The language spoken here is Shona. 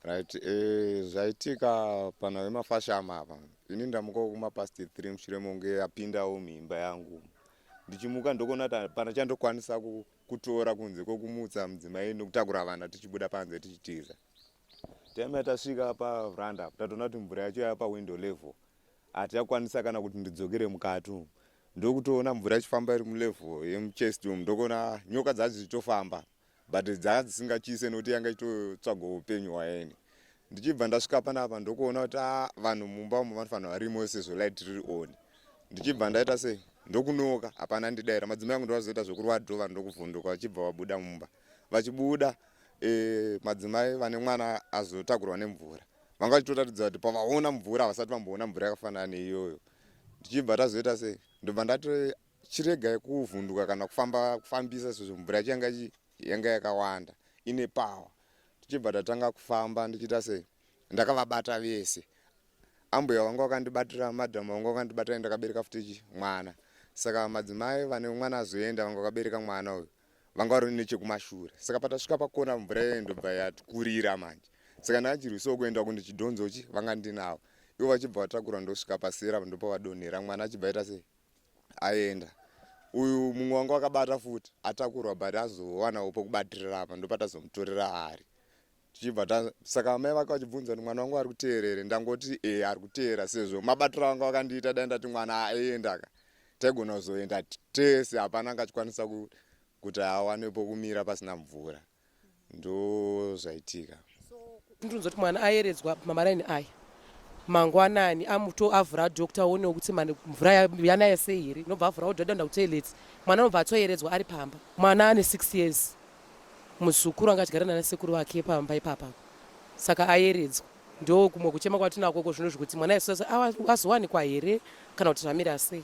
Right, eh, zvaitika pana vemafashama apa ini ndamukawo kuma past 3 mushure monge apindawo muimba yangu ndichimuka ndokuona kuti pana chandokwanisa kutora kunze kwekumutsa mudzimai nokutakura vana tichibuda panze tichitiza time yatasvika pavranda apo tatoona kuti mvura yacho yava pawindow level hatichakwanisa kana kuti ndidzokere mukati umu ndokutoona mvura ichifamba iri mulevel yemuchest umu ndokuona nyoka dzacho dzichitofamba but dzanga dzisingatyise nokuti yanga ichitotsvaga upenyu hwaeni ndichibva ndasvika panapa ndokuona kuti ah, vanhu mumba umo vanofanira varimo sezvo light riri on ndichibva ndaita sei ndokunoka hapana ndidaira madzimai angu ndovazoita zvekurwa dho vanhu ndokuvhunduka vachibva vabuda mumba vachibuda e, madzimai vane mwana azotakurwa nemvura vanga vachitotaridza kuti pavaona mvura havasati vamboona mvura yakafanana neiyoyo ndichibva tazoita sei ndobva ndati chiregai kuvhunduka kana kufamba kufambisa sezvo mvura yacho yanga yanga yakawanda ine power tichibva tatanga kufamba ndichiita sei ndakavabata vese ambuya vanga vakandibatira madam vanga vakandibatira ndakabereka futi mwana saka madzimai vane mwana azoenda vanga vakabereka mwana uyu vanga vari nechekumashure saka patasvika pakona mvura iyoyo ndobva yatikurira manje saka ndakachirwisawo kuenda kundi chidhonzochi vanga ndinavo ivo vachibva vatakura ndosvika pasira ndopa vadonhera mwana achibva aita sei aenda uyu mumwe wanga wakabata futi atakurwa but azowanawo pokubatirira apa ndopatazomutorera ari tichibva ta saka amai vake vachibvunza kuti mwana wangu ari kuteerere ndangoti e ari kuteera sezvo mabatiro vanga vakandiita dai ndati mwana aendaka taigona kuzoenda tese hapana angachikwanisa kuti awane pokumira pasina mvura ndozvaitika ndinonzwa kuti mwana ayeredzwa pamaraini aya mangwanani amuto avhura doctor aonewo kuti mvura yanaya sei here inobva avhura odhadha nda kutoilet mwana anobva atoyeredzwa ari pamba mwana ane six years muzukuru anga achigara nana sekuru vake pamba ipapa saka ayeredzwa ndo kumwe kuchema kwatinakoko zvino zvekuti mwana azowanikwa here kana kuti zvamira sei